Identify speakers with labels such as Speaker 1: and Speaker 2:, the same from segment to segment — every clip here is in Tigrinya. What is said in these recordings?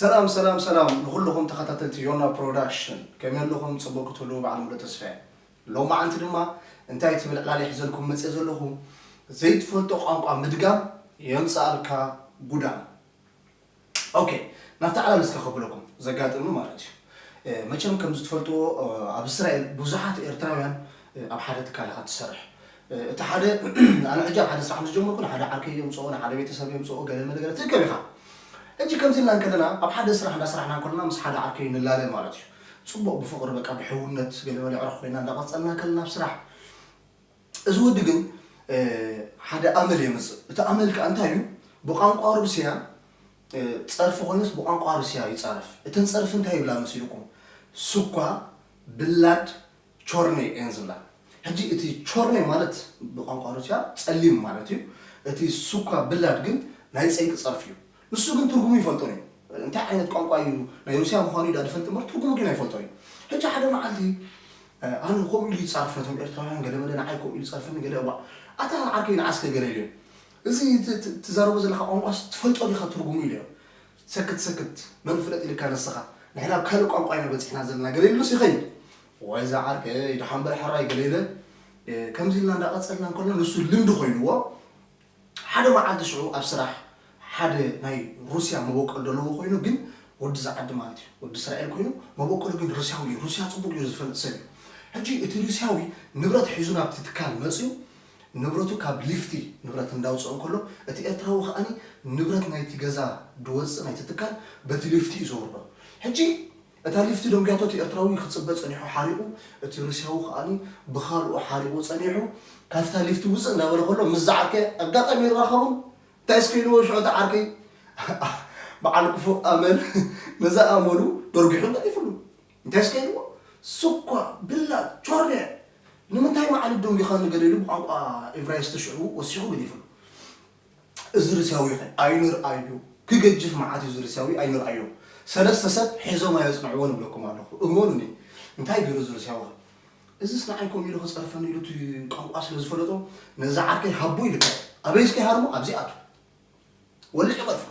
Speaker 1: ሰላም ሰላም ሰላም ንኹልኹም ተኸታተልቲ ዮና ፕሮዳክሽን ከመይ ኣለኹም ፅቡቅ ክትህልዉ በዓል ሙሉ ተስፋ እየ ሎማዓንቲ ድማ እንታይ ትብል ዕላል ይሕዘልኩም መፅእ ዘለኹ ዘይትፈልጦ ቋንቋ ምድጋም የምፅኣልካ ጉዳም ኦኬ ናብቲ ዓላል እስከ ከብለኩም ዘጋጠመ ማለት እዩ መቸም ከምዚ ትፈልጥዎ ኣብ እስራኤል ብዙሓት ኤርትራውያን ኣብ ሓደ ትካል ኢኻ ትሰርሕ እቲ ሓደ ኣነ ሕጂ ኣብ ሓደ ስራሕ ምስ ጀመርኩ ንሓደ ዓርከይ የምፅኦ ንሓደ ቤተሰብ የምፅኦ ገለ መለገለ ትርከብ ኢኻ ሕጂ ከምዚ ኢልና እንከለና ኣብ ሓደ ስራሕ እንዳስራሕና እንከለና ምስ ሓደ ዓርከይ ንላለ ማለት እዩ ፅቡቕ ብፍቕሪ በቃ ብሕውነት ገለ መለ ዕሩኽ ኮይና እንዳቐፀልና ከለና ኣብ ስራሕ እዚ ወዲ ግን ሓደ ኣመል የምጽእ እቲ ኣመል ከኣ እንታይ እዩ ብቛንቋ ሩስያ ጸርፊ ኮይኑስ ብቛንቋ ሩስያ ይጻረፍ እተን ጸርፊ እንታይ ይብላ መሲልኩም ሱኳ ብላድ ቾርኔ እየን ዝብላ ሕጂ እቲ ቾርኔ ማለት ብቛንቋ ሩስያ ጸሊም ማለት እዩ እቲ ሱኳ ብላድ ግን ናይ ጸይቂ ጸርፊ እዩ ንሱ ግን ትርጉሙ ይፈልጦን እዩ እንታይ ዓይነት ቋንቋ እዩ ናይ ሩስያ ምዃኑ እዩ ድኣ ዝፈልጥ እምበር ትርጉሙ ግን ኣይፈልጦን እዩ ሕጂ ሓደ መዓልቲ ኣነ ከምኡ ኢሉ ይጻረፍ ነቶም ኤርትራውያን ገለ መለ ንዓይ ከምኡ ኢሉ ጸርፈኒ ገለ እዋእ ኣታ ዓርከይ ንዓስከ ገለልዮ እዚ ትዛረቦ ዘለካ ቋንቋስ ትፈልጦ ዲካ ትርጉሙ ኢለዮ ሰክት ሰክት መን ፍለጥ ኢልካ ንስካ ንሕና ኣብ ካልእ ቋንቋ ኢና በጺሕና ዘለና ገለ ኢሉስ ይከይድ እዋይ እዛ ዓርከይ ድሓን በል ሕራይ ገለ ኢለ ከምዚ ኢልና እንዳቀጸልና እንከሎና ንሱ ልምዲ ኮይንዎ ሓደ መዓልቲ ሽዑ ኣብ ስራሕ ሓደ ናይ ሩስያ መበቆል ደለዎ ኮይኑ ግን ወዲ ዛዓዲ ማለት እዩ ወዲ እስራኤል ኮይኑ መበቆሉ ግን ሩስያዊ እዩ ሩስያ ጽቡቅ ጌሩ ዝፈልጥ ሰብ እዩ ሕጂ እቲ ሩስያዊ ንብረት ሒዙ ናብቲ ትካል መጽዩ ንብረቱ ካብ ሊፍቲ ንብረት እንዳውጽኦ እንከሎ እቲ ኤርትራዊ ከኣ ንብረት ናይቲ ገዛ ድወጽእ ናይቲ ትካል በቲ ሊፍቲ እዩ ዘውርዶ ሕጂ እታ ሊፍቲ ደንጉያቶ እቲ ኤርትራዊ ክጽበ ጸኒሑ ሓሪቑ እቲ ሩስያዊ ከኣ ብኻልኡ ሓሪቑ ጸኒሑ ካብታ ሊፍቲ ውጽእ እንዳበለ ከሎ ምስ ዝዓርከይ ኣጋጣሚ ይራኸቡን እንታይስ ከይልዎ ሽዑ እቲ ዓርከይ በዓል ክፉእ ኣመል ነዛ ኣመሉ ደርጒሑ ገዲፍሉ እንታይስ ከይልዎ ስኳ ብላጽ ቾርየ ንምንታይ መዓልብ ደንጒኻኒ ገለ ኢሉ ብቋንቋ ኤቭራይስቲ ሽዑ ወሲኹ ገዲፍሉ። እዚ ሩስያዊኸ ኣይንርኣዮ ክገጅፍ መዓት እዩ እዚ ሩስያዊ ኣይንርኣዮ ሰለስተ ሰብ ሒዞም ኣየጽንዕዎን እብለኩም ኣለኹ እመኑኒ እንታይ ጌሩ እዚ ሩስያዊኸ እዝስ ንዓይ ከምኡ ኢሉ ክጸርፈኒ ኢሉ እቲ ቋንቋ ስለ ዝፈለጦ ነዚ ዓርከይ ሃቦ ኢሉካዮ ኣበይስ ከይሃርሞ ኣብዚ ኣቱ ወሊዑ ገድፎ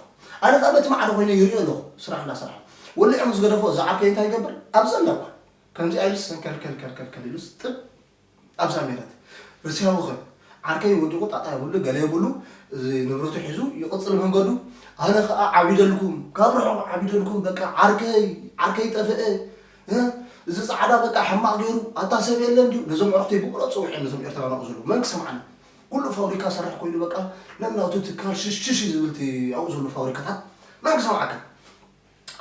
Speaker 1: ኣነ ከኣ በቲ ማዕዶ ኮይነ ይሪኦ ኣለኹ ስራሕ እንዳ ስራሕ ወሊዑ ምስ ገደፎ እዚ ዓርከይ እንታይ ይገብር ኣብ ዘለዋ ከምዚኣ ኢሉስ ሰንከልከልከልከል ኢሉስ ጥብ ኣብዛ ሜረት ርስያዊ ኸም ዓርከይ ወዲቁ ጣጣ የብሉ ገለ የብሉ እዚ ንብረቱ ሒዙ ይቅጽል መንገዱ ኣነ ከኣ ዓቢደልኩም ካብ ርሑቅ ዓቢደልኩም በቃ ዓርከይ ዓርከይ ጠፈኤ እ እዚ ጻዕዳ በቃ ሕማቅ ገይሩ ኣታ ሰብ የለን ድዩ ነዞም ኣዕሩክተይ ብብሎ ጽውዒ ነዞም ኤርትራውያን ኣብኡ ዘለዉ መን ክሰምዓኒ ኩሉ ፋብሪካ ሰርሕ ኮይኑ በቃ ነናቱ ትካል ሽሽሽ ዝብልቲ ኣብኡ ዘሎ ፋብሪካታት መን ክሰምዓካ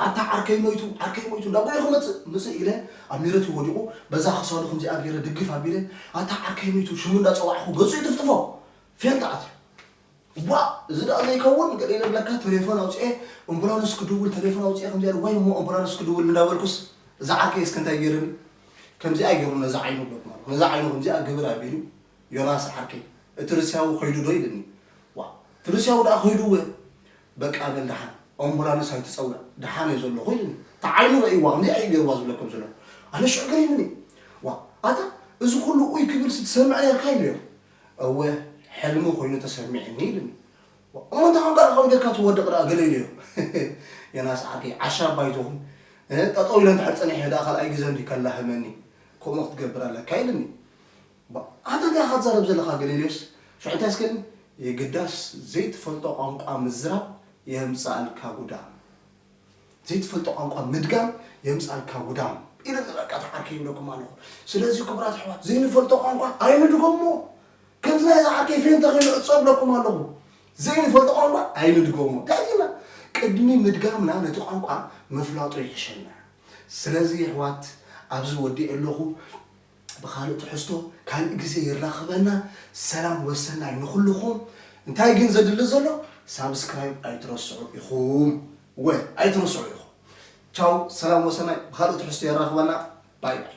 Speaker 1: ኣታ ዓርከይ ሞይቱ ዓርከይ ሞይቱ እንዳ ጎየኹ መጽእ መጽእ ኢለ ኣብ ሜረትዩ ወዲቑ በዛ ክሳዱ ከምዚኣ ጌረ ድግፍ ኣቢለ ኣታ ዓርከይ ሞይቱ ሽሙ እንዳ ጸዋዕኹ ገጹ ይጥፍጥፎ ፌንጣ ኣትዩ ዋእ እዚ ደኣ ዘይከውን ገለ ኢለ ብለካ ተሌፎን ኣውጺኤ እምቡላንስ ክድውል ተሌፎን ኣውጺኤ ከምዚኣ ኢለ ወይ እሞ እምቡላንስ ክድውል እንዳ በልኩስ እዚ ዓርከይ እስከ እንታይ ጌርኒ ከምዚኣ ጌሩ ነዛ ዓይኑ በልኩ ነዛ ዓይኑ ከምዚኣ ግብር ኣቢሉ ዮናስ ዓርከይ እቲ ርስያዊ ከይዱ ዶ ኢልኒ ዋእ እቲ ርስያዊ ደኣ ከይዱ እወ በቃ በል ደሓን ኦምቡላንስ ኣይትጸውዕ ደሓን እየ ዘለኹ ኢሉኒ እታ ዓይኑ ረእይዋ ከምዚኣ እዩ ገይርዋ ዝብለኩም ዘለኹ ኣነ ሽዑ ገሪሙኒ ዋ ኣታ እዚ ኩሉ ኡይ ክብልሲ ትሰምዕ ነርካ ኢለዮ እወ ሕልሚ ኮይኑ ተሰሚዕኒ ኢሉኒ እሞ እንታይ ኮንካ ደኣ ካብ ጌርካ ትወድቕ ደኣ ገለ ኢለዮ ዮናስ ዓርከይ ዓሻ ባይቶኹም ጠጠው ኢለ እንድሕር ጸኒሐ ደኣ ካልኣይ ግዘ እንዲ ከላህመኒ ከምኡ ክትገብር ኣለካ ኢሉኒ ኣታ ታይ ኢኻ ትዛረብ ዘለኻ ገሌልዮስ ሽዑንታይ ስከን የግዳስ ዘይትፈልጦ ቋንቋ ምዝራብ የምጽኣልካ ጉዳም ዘይትፈልጦ ቋንቋ ምድጋም የምጽኣልካ ጉዳም ኢሉኒ በቃ እቲ ዓርከይ ይብለኩም ኣለኹ ስለዚ ክቡራት ኣሕዋት ዘይንፈልጦ ቋንቋ ኣይንድገሞ ከምዚ ናይዚ ዓርከይ ፌንተ ኮይኑ ዕጾ ይብለኩም ኣለኹ ዘይንፈልጦ ቋንቋ ኣይንድገሞ ዳይና ቅድሚ ምድጋምና ነቲ ቋንቋ ምፍላጡ ይሕሸና ስለዚ የሕዋት ኣብዚ ወዲኤ ኣለኹ ብካልእ ትሕዝቶ ካልእ ግዜ የራክበና ሰላም ወሰናይ ንኩሉኩም እንታይ ግን ዘድሊ ዘሎ ሳብስክራይብ ኣይትረስዑ ኢኩም እወ ኣይትረስዑ ኢኩም ቻው ሰላም ወሰናይ ብካልእ ትሕዝቶ የራክበና ባይ ባይ